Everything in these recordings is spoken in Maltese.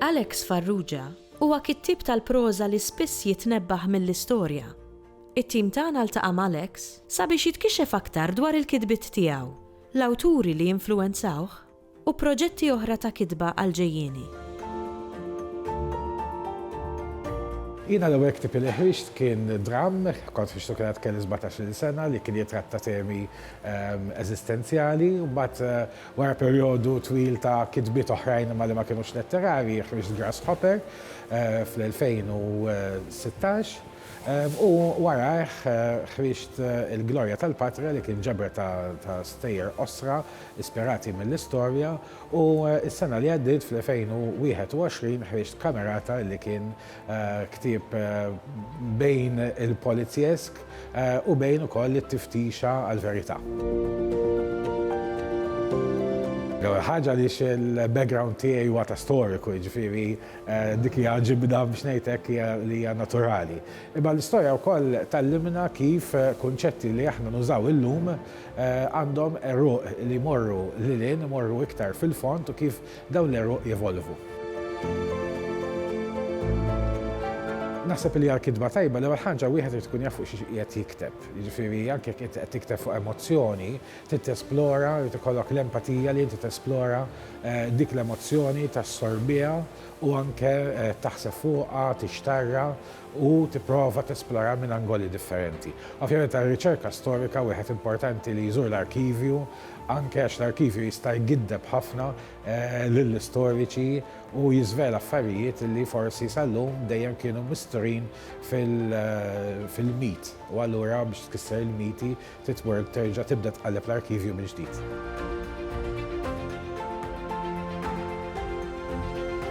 Alex Farrugia huwa kittieb tal-proża li spiss jitnebbaħ mill-istorja. It-tim tagħna ltaqa' m'Alex sabiex jitkixef aktar dwar il-kitbiet tiegħu, l-awturi li influwenzawh, u proġetti oħra ta' kitba għall-ġejjieni. Jiena l-ewwel ktieb li ħriġt kien dramm, kont ħriġtu kien għad kelli sbatax-il sena, li kien jitratta temi eżistenzjali. Mbagħad wara perjodu twil ta' kitbiet oħrajn imma li ma kinux letterarji, ħriġt Grasshopper fl-2016 u warajh ħriġt Il-Glorja tal-Patria li kien ġebra ta' stejjer qosra ispirati mill-istorja u s-sena li għaddiet fl-2021 ħriġt Camerata li kien ktieb bejn il-polizjesk u bejn ukoll it-tiftixa għall-verità. L-ewwel ħaġa għaliex il-background tiegħi huwa ta' storiku, jiġifieri dik hija ġibda biex ngħid hekk hija li hija naturali. Imma l-istorja wkoll tgħallimna kif kunċetti li aħna nużaw illum għandhom għeruq li jmorru lil hinn, imorru iktar fil-fond u kif dawn l-għeruq jevolvu. Naħseb li għal kitba tajba l-ewwel ħaġa wieħed irid ikun jaf fuq xiex qiegħed jikteb. Jiġifieri anke jekk inti qed tikteb fuq emozzjoni, trid tesplora, irid ikollok l-empatija li inti tesplora dik l-emozzjoni, tassorbiha u anke taħseb fuqha, tixtarrha u tipprova tesplora minn angoli differenti. Ovvjament għar-riċerka storika wieħed importanti li jżur l-arkivju anke għax l-arkivju jista' jgiddeb ħafna lill-istoriċi u jiżvela affarijiet li forsi sal-lum dejjem kienu misturin fil-mit u allura biex tkisser il-miti Titwork terġa' tibda tqalleb l-arkivju mill-ġdid.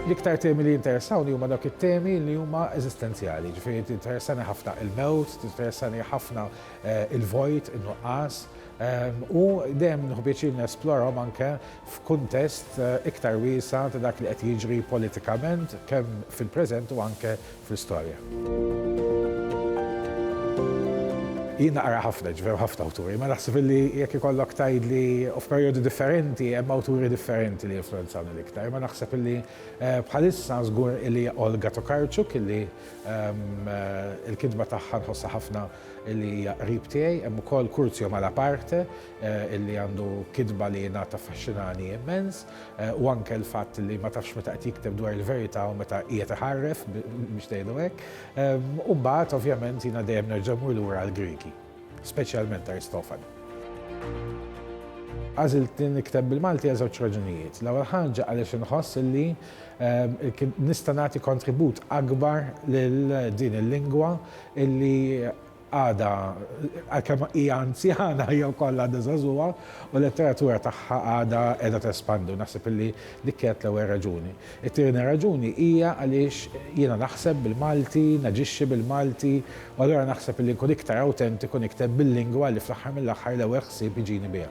L-iktar temi li jinteressawni huma dawk it-temi li huma eżistenzjali, ġifieri tinteressani ħafna il-mewt, tinteressani ħafna eh, il-vojt, in-nuqqas, ehm, u dejjem nħubiċi nesplorhom anke f'kuntest eh, iktar wiesa ta' dak li qed jiġri politikament kemm fil-preżent u anke fl-istorja. Jien naqra ħafna, ġifieri hemm ħafna awturi, imma naħseb illi jekk ikollok tgħidli u f'perjodu differenti hemm awturi differenti li influwenzawni l-iktar, imma naħseb illi bħalissa żgur illi Olga Tokarczuk illi l-kitba tagħha nħossha ħafna illi hija qrib tiegħi, hemm ukoll Curzio Malaparte illi għandu kitba li jien għad taffaxxinani immens. u anke l-fatt li ma tafx meta qed jikteb dwar il-verità u meta qiegħed iħarref biex ngħidu hekk. U mbagħad ovvjament jiena dejjem nerġa' mmur lura għall-Griegi, speċjalment Aristofanu. Għażilt li nikteb bil-Malti għal żewġ raġunijiet. L-ewwel ħaġa għaliex inħoss li nista' nagħti kontribut akbar lil din il-lingwa illi Għadha, għalkemm hija anzjana, hija wkoll għadha żagħżugħa u l-letteratura tagħha għadha qiegħda tespandi u naħseb illi dik kienet l-ewwel raġuni. It-tieni raġuni hija għaliex jiena naħseb bil-Malti, naġixxi bil-Malti u allura naħseb illi nkun iktar awtentiku nikteb bil-lingwa li fl-aħħar mill-aħħar l-ewwel ħsieb iġini biha.